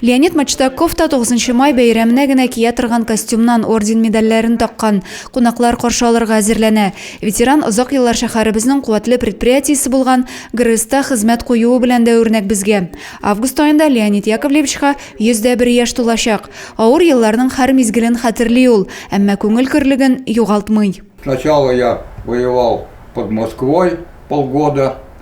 Леонид Мачтаков та 9 май бәйрәменә генә кия торган костюмнан орден-медальләрен таккан. Кунаклар каршы алырга әзерләнә. Ветеран озак еллар шәһәребезнең куәтле предприятиесе булган ГРЭСта хезмәт куюы белән дә үрнәк безгә. Август аенда Леонид Яковлевичка 101 яшь тулачак. Авыр елларның һәр мизгелен хәтерли ул, әмма күңел көрлеген югалтмый. Сначала я воевал под Москвой полгода.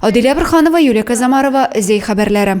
Адилә Борханова, Юлия Казамарова, Зәй хәбәрләре.